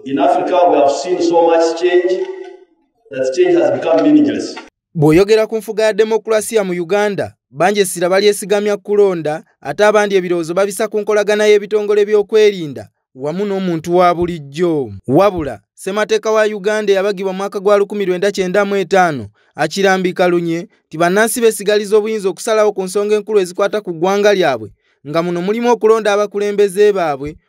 In Africa, we have seen so much change that change has become meaningless. Bw'oyogera ku nfuga ya demokulasiya mu Uganda, bangi essira balyesigamya kulonda ate abandi ebirowoozo babisa ku nkolagana y'ebitongole by'okwerinda wamu n'omuntu wa bulijjo. Wabula, ssemateeka wa Uganda eyabagibwa mwaka gwa 1995 akirambika lunye nti bannansi besigaliza obuyinza okusalawo ku nsonga enkulu ezikwata ku ggwanga lyabwe nga muno mulimu okulonda abakulembeze baabwe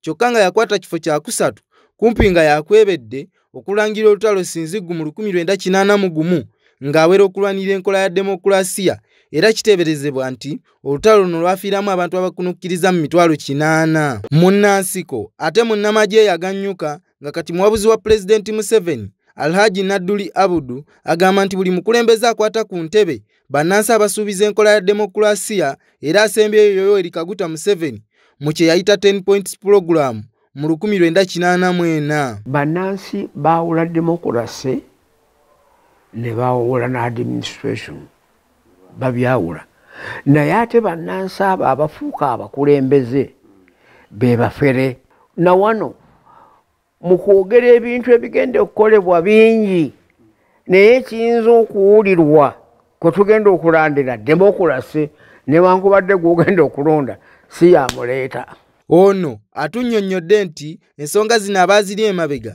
kyokka nga yakwata kifo kyakusatu kumpi nga yakwebedde okulangira olutalo sinziggu mu 1981 ng'awera okulwanira enkola ya demokulasiya era kiteeberezebwa nti olutalo luno lwafiiramu abantu abakunukkiriza mu mitwalo kinaana munnansiko ate munnamagye yagannyuka nga kati muwabuzi wa pulezidenti museveni alhaji nadduli abudu agamba nti buli mukulembeze akwata ku ntebe bannansi abasuubiza enkola ya demokulasiya era asembyeyo yoyo erikaguta museveni mu kye yayita 10 points pulogulaamu mu 1984 bannansi baawula demokulasi ne baawula n'administration babyawula naye ate bannansi abo abafuuka abakulembeze be bafere na wano mu kwogera ebintu ebigenda okukolebwa bingi naye ekiyinza okuwulirwa kwe tugenda okulandira demokulasi newankubadde gwogenda okulonda si yamuleeta ono atunnyonnyodde nti ensonga zino abaaziri emabega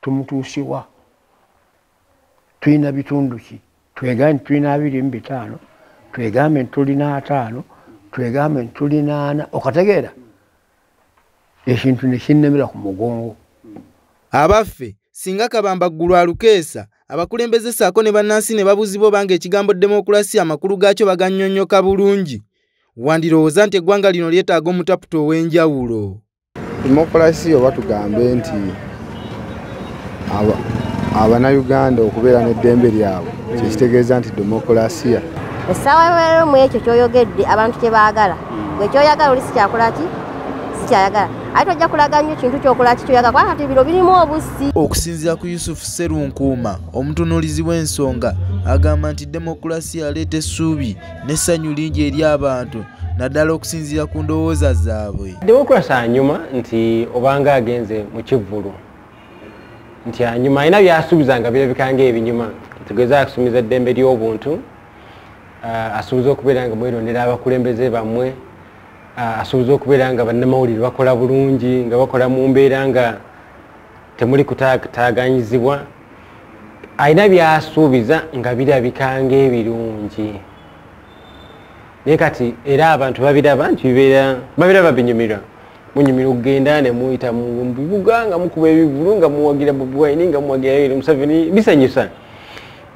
tumutuusiwa tulina bitundu ki twegambe nti tulina abiri mu bitaano twegambe nti tulina ataano twegambe nti tulina ana okategeera ekintu nekinnemera ku mugongo abaffe singa kabamba ggulu alukeesa abakulembeze saako ne bannansi ne babuuzibwa obanga ekigambo demokulasiya amakulu gaakyo bagannyonnyoka bulungi wandirowooza nti eggwanga lino lyetaaga omutaputa ow'enjawulo demokulasi oba tugambe nti abanauganda okubeera n'eddembe lyabwe kyekitegeeza nti demokulasiya essaawa yolero mu ekyo kyoyogedde abantu kye baagala hmm. gwe kyoyagala oli sikyakola ki sikyayagala ate ojja kulaga nnyo kintu kyokola ki kyoyagala kubanga kati biro birimu obussi okusinziira ku yusufu serunkuuma omutunuulizi w'ensonga agamba nti demokulasiya aleeta essuubi n'essanyu lingi eri abantu naddala okusinziira ku ndowooza zaabwe democrasi anyuma nti obanga agenze mu kivvulu nti anyuma alina byasuubiza nga birabika nga ebinyuma tugeze akusumiza eddembe ly'obuntu uh, asuubiza okubeera nga mwerondera abakulembeze bammwe uh, asuubiza okubeera nga bannamawulire bakola bulungi nga bakola mu mbeera nga temuli kutaaganyizibwa alina byasuubiza nga birabika ngaebirungi naye kati era abantu babiraba nti bibeera babiraba binyumirwa munyumira okugenda nemuyita mubibuga nga mukuba ebivulu nga muwagira bobiwine nga muwagira yoweri museveni bisanyusa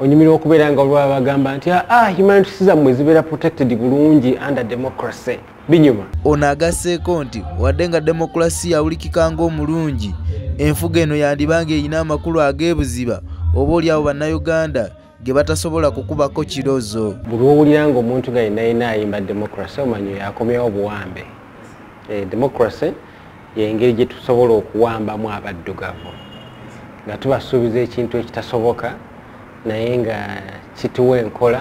onyumirwa okubeera nga olwabagamba nti aa ah, ah, humanitisizammwe zibeera protected bulungi under democracy binyuma. Ono agasseeko nti wadde nga demokulasiya awulikika ng'omulungi, enfuga eno yandiba ng'erina amakulu ag'ebuziba oba oli awo bannayuganda ge batasobola kukubako kirozo. Buli wowulira ng'omuntu nga yenna yenna ayimba demokulasi omanyi oyo akomyewo obuwambe. Eh, demokulasi y'engeri gye tusobola okuwambamu abaddugavu nga tubasuubiza ekintu ekitasoboka naye nga kituwa enkola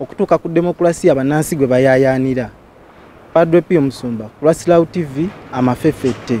okutuuka ku demokulasiya bannansi gwe bayaayaanira padre pio musumba kulwasilawo tv amafefette